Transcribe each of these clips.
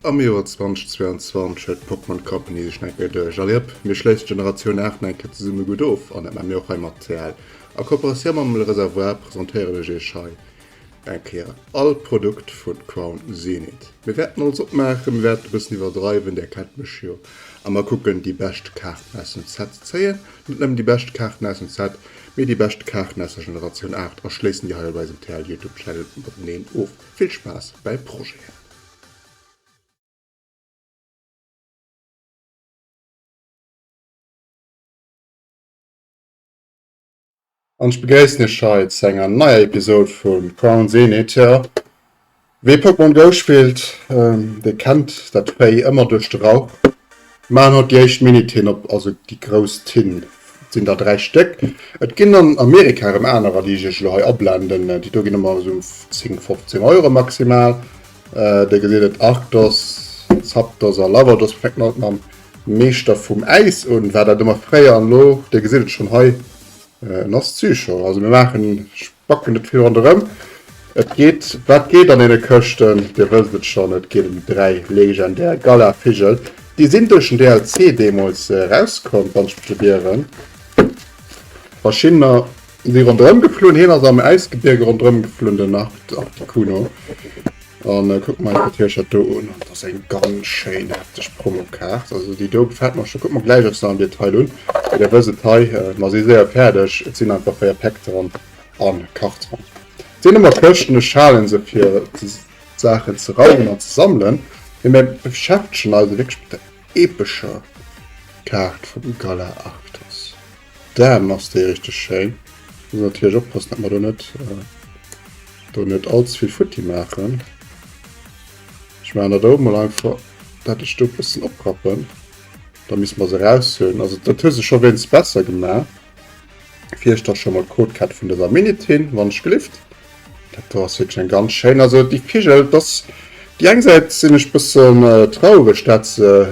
Am Joer 2022 huet d'Pokémon Company sech nach eng Kéier duerch. Alliëpp, mir schléissen d'Generatioun 8 nach eng Kéier zesumme gutt of, an dat maache mir och hei mat CL. A Kooperatioun mam Le Réservoir presentéieren ech iech hei Eng Kéier all Produkt vun Crown Zenith. Mir wärten alles opmaachen, mir wärten e bëssen iwwerdreiwen, där kennt mech jo, a mer kucken déi bescht Kaarten aus dem Set ze zéien, net nëmmen déi bescht Kaarten aus dem Set, mee déi bescht Kaarten aus der Generatioun 8 a schléissen déi hei op eisem TL Youtube Channel mateneen of. Vill Spaass bäi Projeten! an ech begréissen Iech hei zu enger neier Episod vu Crown Zenith. Tja, wee Pokémon Go spillt, ähm, dee kennt dat Véi ëmmer duerch de Rauch. Machen haut déi éischt Mini-Tinn op, also déi grouss Tinn sinn der dräi Stéck. Et ginn an Amerika erëm anerer, déi ech Iech elo hei ablenden. Déi do ginn ëmmer esou 10, 15 Euro maximal. Äh, dir gesitt et, Arctos, Zapdos a Lavados. Mir fänken alt mam Meeschter vum Äis un, war dat ëmmer fréier. An elo, dir gesitt et schonn hei, en ass d'Süchong. Also mir maachen, spacken net vill ronderëm. Et geet, wat geet an deene Këschten? Dir wësst et schonn, et geet ëm déi dräi legendär Galar-Vigel. Déi sinn duerch den DLC deemools erauskomm, wann ech mech net ieren. Verschiddener. Si rondrëm geflunn, hien ass am Äisgebierge rondrëm geflunn, den Articuno. An äh, kuck mal dat Hiercher do un. Dat ass eng ganz schéin heftig Promokaart. Also déi do gefällt mer schon. Kuck mer gläich och se am Detail un. Wéi der wësst, hei, äh, mer si séier fäerdeg. Et sinn einfach 4 Päck dran an Karte dran. Et sinn ëmmer Këschten, ech halen se fir Saachen ze raumen an ze sammelen. Mee mer beschäftegen eis wierklech mat der epischer Kaart vum Galar Arctos. D'Aarm ass déi richteg schéin. Muss natierlech oppassen dat mer do net do net all ze vill futti maachen. Ech maachen dat oben mol einfach dat ech do bëssen oprappen, da misst mer se raushölen. Also dat hues de scho wéinst besser gemaach. Fir iech da scho mol d'Codecat vun dëser Minute hin, wann ech gelift. Dat do ass wierklech eng ganz schéin. Also déi Vigel, dass déi eng Säit sinn ech bëssen traureg dat se.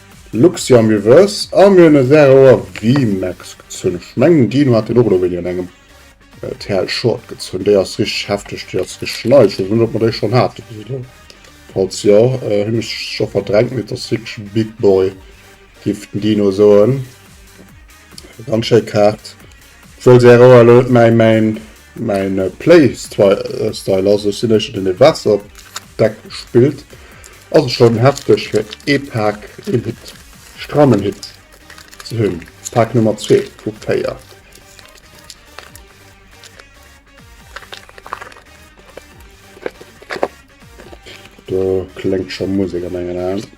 Luxiam mir wëss a mir hunn e Serroer VMAX gezunn. Ech mengen Dino hat deen och elo wéini an engem TL Short gezunn. Déi ass richteg hefteg, déi ass richteg nei. Ech weess net ob mer déi schonn hate bis elo. Falls jo, hunn ech scho verdrängt, mee et ass wierklech e Big Boy géif den Dino soen. Ganz schéi Kaart. Obwuel Serroer elo net mäi main Mäin Play Style ass, ech sinn éischter den dee Waasserdeck spillt. Ass et schonn hefteg fir ee Pak een Hit, strammen Hit ze hunn, Pak Nummer zwee vu véier. Do kléngt scho Musek a mengen Aen.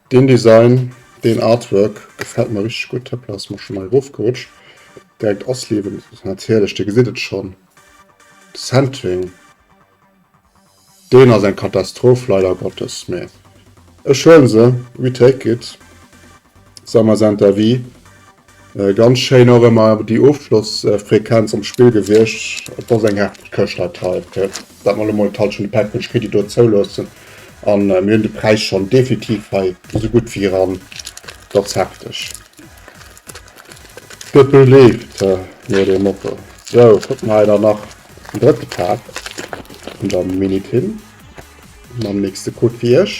Deen Design, deen Artwork gefällt mer richteg gutt. Hoppla, ass mer schonn nei erofgerutscht. Direkt Asliewen ass net hierlech, dir gesitt et schonn. De Centering, deen ass eng Katastroph, leider Gottes, mä ech huelen se, we take it, ça m'est interdit. Äh ganz schéin och emmer déi Ofschlossfrequenz am Spill gewiescht. Et ass eng hefteg Këscht dat hei fir dat mer lo mol d'Halschent vun de Package kritt déi do zouloossen an mir hunn de Präis schonn definitiv hei esou gutt wéi eran. Et ass hefteg. Dëppel leeft no dem Motto. Sou kucken mer hei dann nach den drëtte Pack vun der Mini-Tin mam nächste Code fir iech.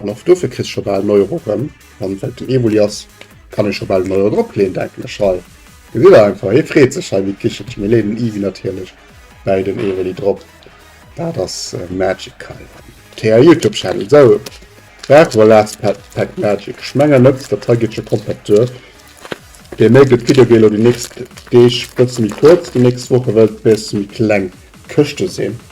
An och dofir kriss scho bal en Euro rëm, an well et den Evoli ass, kann ee scho bal en Euro dropleeën, denken ech hei. Gesitt der einfach, hie freet sech hei wéi d'Kichelchen. Mir leeën den Ivi natierlech bäi den Evoli drop. Dat ass Magical am TR Youtube Channel. Esou, brauche mer Last Pack Magic? Ech mengen net, dat hei geet scho komplett duer. Dee méi gëtt d'Video géi lo déi nächst Deeg bësse méi kuerz, déi nächst Woche wëll et e bësse méi kleng Këschte sinn.